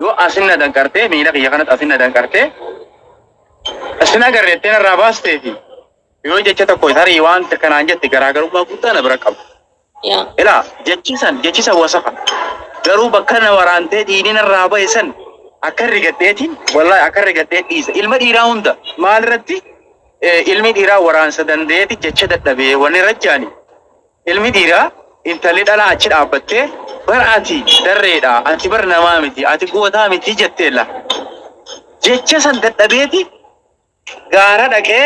Yoo asin na danqartee, miila kiyya kanatti asin na danqartee, asin agarre jettee narraa baastee fi yoo jecha tokko tarii waan takka naan jette garaagarummaa guddaa na bira qaba. Yaa. Ilaa jechi san jechi san wasafa garuu bakka na waraantee diinii narraa bahe san akka rigadheetiin wallahi akka rigadhee dhiisa ilma dhiiraa hunda maal irratti eh, ilmi dhiiraa waraansa dandeeti jecha dadhabee wanni rajjaani Ilmi dhiiraa intalli dhalaa achi dhaabbattee, Bar ati darreedha, ati bar namaa miti, ati gootaa miti jetteella. Jecha san dadhabeeti gaara dhaqee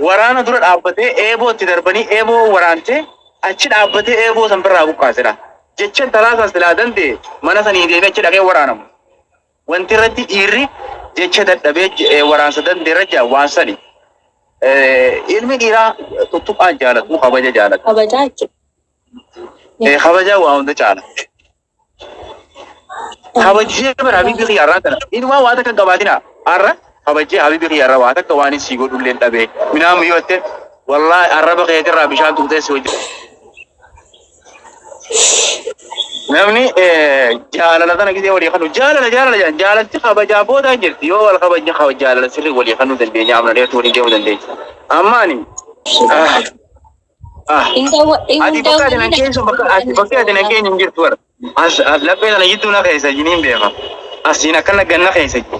waraana dura dhaabbatee eeboo itti darbanii eeboo waraantee achi dhaabbatee eeboo san birraa buqqaasedha. Jecha intalaa san silaa danda'e mana sanii deemee achi dhaqee waraanama. Wanti irratti dhiirri jecha dadhabee j- eh, waraansa dandeera jedha waan sani. Eh, Ilmi dhiiraa tuttuqaan jaalatu kabaja jaalatu. Kabajaa jechuudha. Eh, Kabaja waa hunda caala. Kabajee bara habibi kiyya irraa kana. Inumaa waa takka hin qabaatina. Har'a kabajee habibi kiyya irraa waa takka waan hin sii godhullee hin dhabee. Minaan yoo jette wallaahi arraba keetirraa bishaan tuutee si hojjetu. Namni eh, jaalala sana gisee walii kanu jaalala jaalala jaalala jaalalti kabajaa booda hin jirti yoo wal kabajne kaba jaalala sirri walii kanuu dandeenya amna dheertu waliin deemuu dandeenya. Amma ani ah, ah, ati bakka ati nan keessa bakka ati bakka ati nan keenya hin jirtu bara. As as laphee sana jidduu na keessa jiniin beeka. Asiin akkana ganna keessa jiru.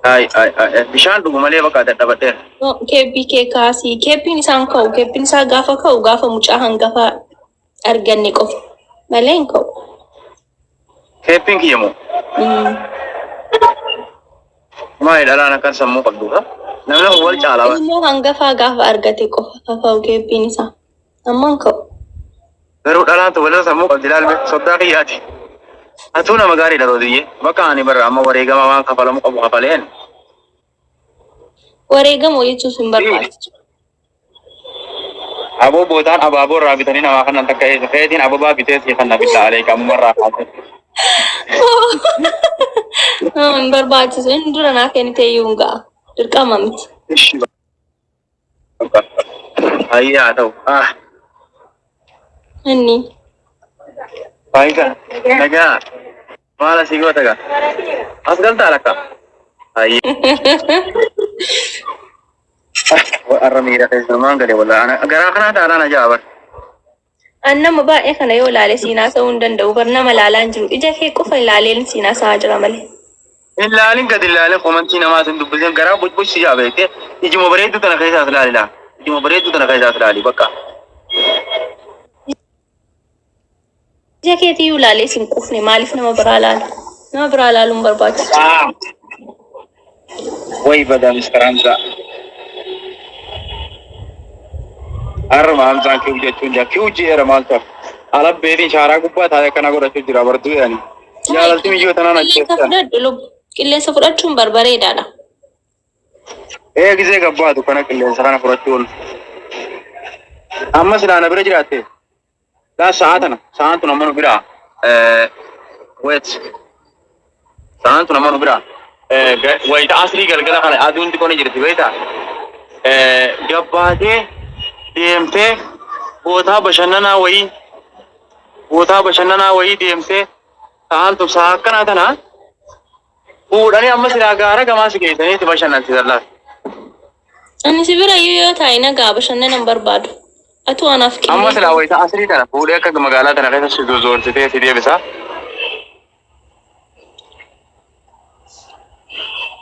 Ay, ay, ay, ay. Bishaan dhugu malee bakka dadhabadheera. No, keebbii kee kaasii. Keebbiin isaan ka'u. Keebbiin isaa gaafa ka'u gaafa mucaa hangafa arganne qofa. Malee hin ka'u. Keebbiin kiyya moo? Mm. Maali dhalaan akkan sammuu qabduudha. Namni wal caalaa. Ilmoo hangafaa gaafa argate qofa kaka'u keebbiin isaa. Ammaan ka'u. Garuu dhalaan tubaloo sammuu qabdi laalme soddaa kiyyaati. Atuu nama gaariidha Rooziyye. Bakka ani barra amma wareegama waan kafalamu qabu kafaleen. Wareegama hojachuus hin barbaachisu. Aboo bootaan abaaboo irraa bitanii namaa kannan takka eessa feetiin ababaa bitee sii kanna billaa aleeka amma irraa kaasee. Hin barbaachisu. Inni dura naa kennitee iyyuu hin ga'a. Dirqama miti. Ishi Baay'ee haa ta'u. Ah, Inni. Faayidaa. Nagaa. Maal asii goota gaa? As galtaa lakka? Har'a miira keessa maan gale walaa. Garaa kanaa taalaan ajaa'iba. An nama baay'ee kana yoo ilaale siin haasa'uu hin danda'u bar nama ilaalaa hin jiru ija kee qofa ilaaleen siin haasa'aa jira malee. Hin laalin gad hin laalin komantii namaa sin dubbisin garaa bucbuc si jaa beekte ijuma bareedduu tana keessaas laali laa ijuma bareedduu tana keessaas laali bakka. Ija keetii yoo ilaalee siin quufne maaliif nama biraa ilaala? Nama biraa ilaaluun barbaachisu. Way badaa Mr. Hamzaa. Harma Hamzaan kiw jechuun jira. Kiw jeera maal ta'u? Ala beetiin shaaraa gubbaa taa'ee kana godhachuu jira barduu yaani. Jaalalti miyyoo tanaan Qilleensa ajjeessan. fudhadhu lubbu. Qilleensa fudhachuun barbareedaadha. Ee gisee gabbaatu kana qilleensa kana fudhachuun. Ammas ilaana bira jiraatte. Gaa sa'aa tana sa'aan tun ammoo nu biraa eh, wait sa'aan tun ammoo nu biraa eh, ga- wayita asrii galgala kana aduun xiqqoo ni jirti beektaa eh, gabbaatee deemtee bootaa bashannanaa wayii bootaa bashannanaa wayii deemtee sa'aan tun sa'aa akkanaa tana fuudhanii amma silaa gaara gamaa si geessanii itti bashannansiisan laata? Ani si bira iyyuu yoo taa'e nagaa bashannana hin barbaadu. Atuu anaaf Amma kennee. silaa wayita asrii tana fuudhee akka magaalaa tana keessa si zozoorsitee si deebisa.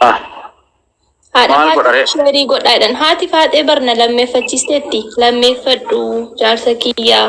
Ah, Haadha Maal Faaxee godharee? sheerii godhaa jedhan. Haati Faaxee barna lammeeffachiisteetti. Lammeeffadhu jaarsa kiyyaa.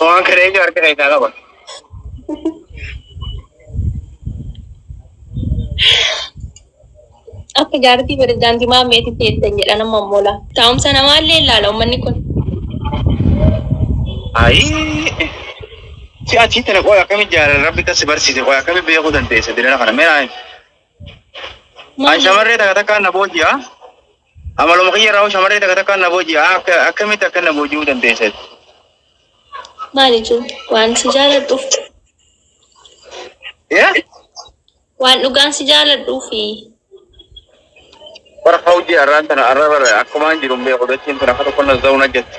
Waan kana eenyu harka keessaa qaba? Akka jaartii pirezidaantii Maammeetti teessan jedha nama mola. Taa'umsa namaallee ilaala uummanni kun. Ayii. Si achii tana qoy akkamitti jaalan rabbi kasi barsiise qoy akkamitti beekuu dandeesse dirana kana mee naan. An shamarree takka takkaan na booji'a. Amaluma kiyya irraa hoo shamarree takka takkaan na booji'a akka akkamitti akka na booji'uu dandeessan. Maali jiru? Waan si jaaladhuuf. Yaa Waan dhugaan si jaaladhuufi. bara hawji arraan tana arra bara akkumaan jiru hin beeku dachiin tun akka tokko na za'u na jetti.